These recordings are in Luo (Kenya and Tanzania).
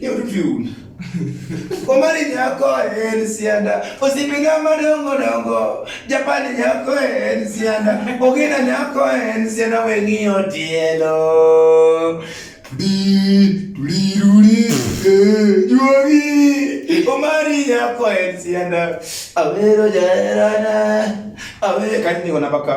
Yotun. Omari nyako en sianda, osipina madongo dongo, Japani nyako en sianda, Ogina nyako en sianda weng'iyo tielo. Di, tuliruri, eh, juogi, Omari nyako en sianda, awero jaerana, awero kanyo niko namba ka.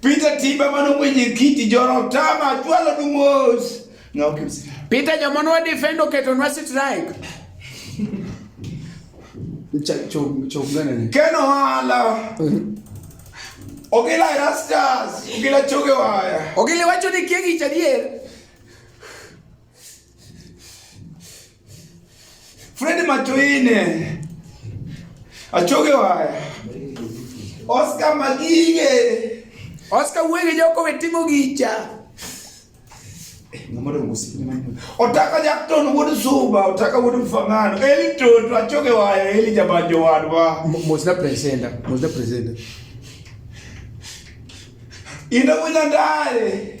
Peter Tiba mano mwenyekiti jorotama chwalo dumos. No, Peter jamono wa defend oketo nwa strike. Keno hala. Ogila rastas, ogila choge waya. Ogila wacho ni kiegi chadier. Fred Machoine achoge waya Oscar Magige Oscar wege joko wetimo gicha otaka jakton wuod suba otaka wuod mfangano eli toto achoge waya eli jabanjo wadwa mosna presenta mosna presenta ina wina ndale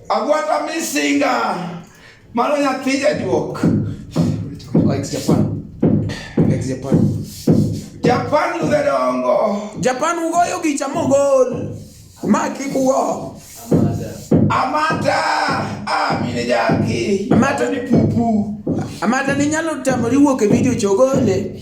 Agwata misinga mano nyathi jajuok. Likes Japan. Likes Japan. Japan ludhe dongo. Japan ugoyo gicha mogol. Ma kik ugo. Amata. Ah, mine jaki. Amata ni pupu. Amata ni nyalo tamori wuok e video chogole.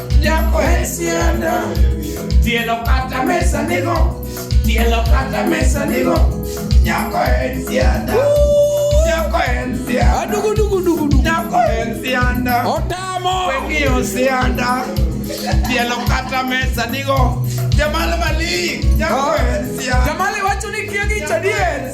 Nyako en sianda, tielo kata mesa nigo, tielo kata mesa nigo, nyako en sianda. Nyako en sianda. Adugu dugu dugu dugu. Nyako en sianda. Otamo. Wengi yo sianda. Tielo kata mesa nigo. Jamal Malik. Nyako en sianda. Jamal wacho ni kiegi chadier.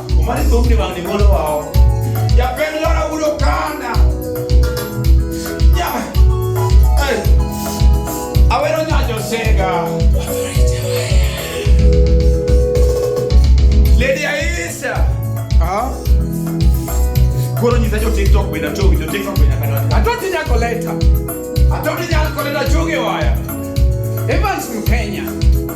Omari thumni wang' ni molo wa oko. Japend lora udo kanda. Nya. Hey. Awero nyanyo sega. Lady Aisha. Ah. Koro nyisa jo TikTok bende achogi, jo TikTok bende akadwani. Atoti nyako leta. Atoti nyako leta chogi waya. Evans Mkenya.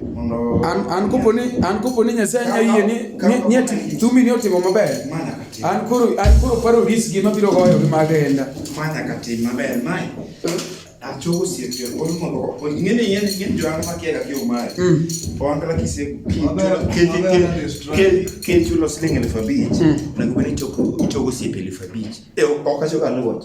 an kopo ni an kopo ni Nyasaye nya yie ni ni ati thumi ni otimo maber an koro an koro paro ris gi mabiro goyo gi mag enda mana ka tim maber mai achogo siete on mondo ngene yen ngene jo anga makiega ki umai mm. on kala kise ke chulo siling elfu abich mm. na gubeni chogo siete elfu abich e okachoga luot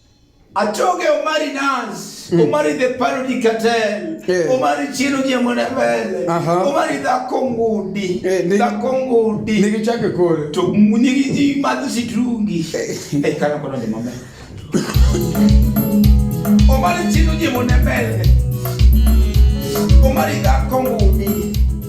Atoke Omari Nas, mm. Omari the Parody Cartel, yeah. Omari Chino Jamonavele, uh -huh. Omari dhako ngudi, yeah, nigi, dhako ngudi. Nigi chake kore. To nigi ji madho sitrungi. Eh, eh kana kono ni mama. Omari Chino Jamonavele, Omari dhako ngudi.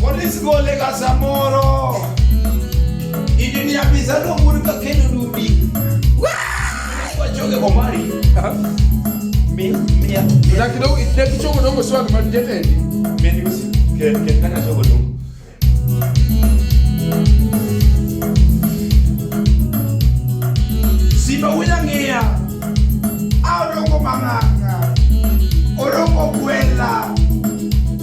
Polis gole ga samoro. Idi ni abiza no muri ka kenu dubi. Kwa choge komari. Mi mi ya. Na kidogo ile kichogo dongo sio kama jete. Mi ni kusi. Ke ke kana chogo dongo. Sipa wina ngia. Au dongo manganga. Orongo kuela.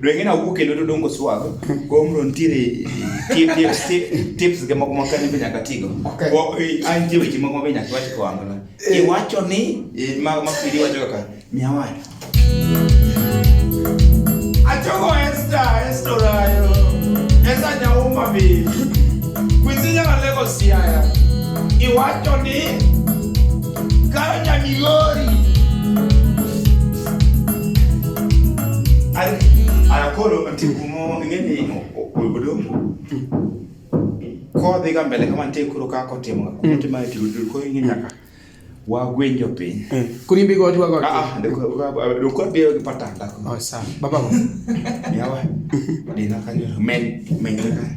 Dweng'e na wuok kendo to dongo swag. Komro ntiere tip tip tip tips ge moko maka ni be nyaka tigo. Okay. Ko eh, ai ntie weche moko be nyaka wach ko angola. Eh. Iwacho ni eh, ma ma pidi wacho kaka miawa. Achogo esta estorayo. Esa nyauma bi. Kwisinya na lego siaya. Iwacho ni karo nyamigori. Koro tikumo ngeni odomo kodhi ga mbele kama nitie koro kaka otimo mm. otimo e tudul koro ing'e nyaka wagwenjo piny mm. kurimbi go dwa go ah, ah do ko bi gi patanda oh sa baba go yawa dina kanyo men men ka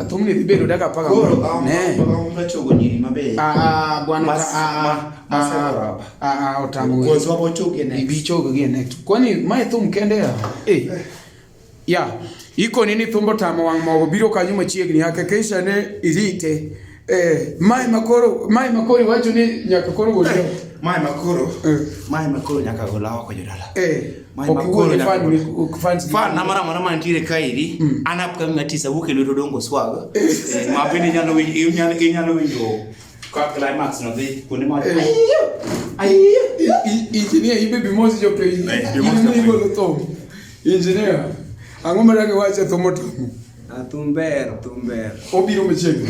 Atumne libelo daka paka. Ne. Ah, bwana ah ah ah utamu. Kwa sababu choke ne. Ibi choke again next. Kwani mai thum kende ya? Eh. Ya. Iko nini thumbo tamo wang' mogo biro kanyo machiegni hakikisha ne irite Eh, mae makoro, mae makoro iwacho ni nyaka koro gol eh, Mae makoro. Eh. Mae makoro nyaka gol oko jodala. Eh. Mae makoro nyaka gol. Fans fan na mara mara mantiere kairi, mm. an upcoming artist awuok e lwedo dongo swag. Eh. eh, ma bende nyalo winjo, inyalo inyalo winjo ka climax no dhi kuonde ma. Eh. Ayiyo. Injinia ibe bimosi jo piny. Injinia igolo thum. Injinia. Ang'o ma dagi wache thum otomo? Ah, thum ber, thum ber. Obiro machiegni.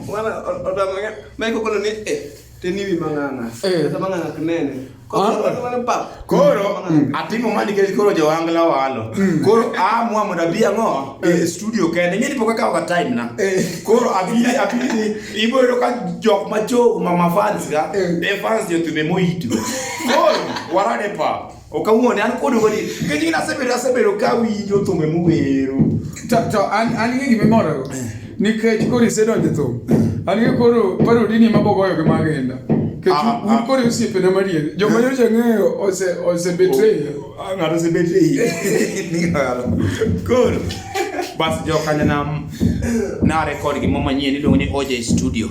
Mwana otamanya meko kono ni eh teniwi mang'ana. Eh. Kata mang'ana kinene. Ah. Koro mm. atimo mani nikech koro jowangla walo. Mm. Koro amwa mondo abi ang'o e eh. studio kende. Ng'e ni pok akawo ka time na. Eh. Koro abi abi ibo yudo ka jok macho mama fans ga. E fans yo tume moito. Koro warade pa. Ok awuon, an kodu godi. Nikech in asebedo asebedo ka winjo thumbe muwero. To to an an gi gima imoro. Eh. Nikech koro isedonjo e thum. Eh. An gi koro parodi ni mabogoyo gi magenda. Nikech ah, un ah. koro osiepena madier. Joma eh. nyocha ng'eyo ose ose betray. Oh, ah, ng'ato ose betray. Koro bas jo kanyana na record gimo manyien iluongo ni OJ Studio.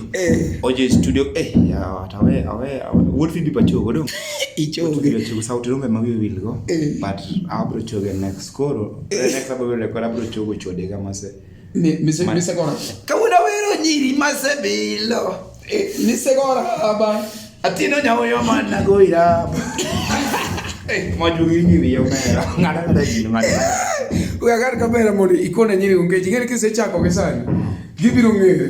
OJ Studio eh ya awe awe wuod Phoebe Pacho godong. ichoge tiyo sauti rombe ma wiye wilgo eh. but abro choge next koro eh. next abro record abro chogo chode ga mase mise mise gora kawuono wero nyiri mase bilo eh, mise gora aba atino nyawoyo mana goira mojugi ni wiyo mera ngada kada gino ngada uyagar kamera mori ikone nyiri ungeji ngere kisechako kesani gibiro ngere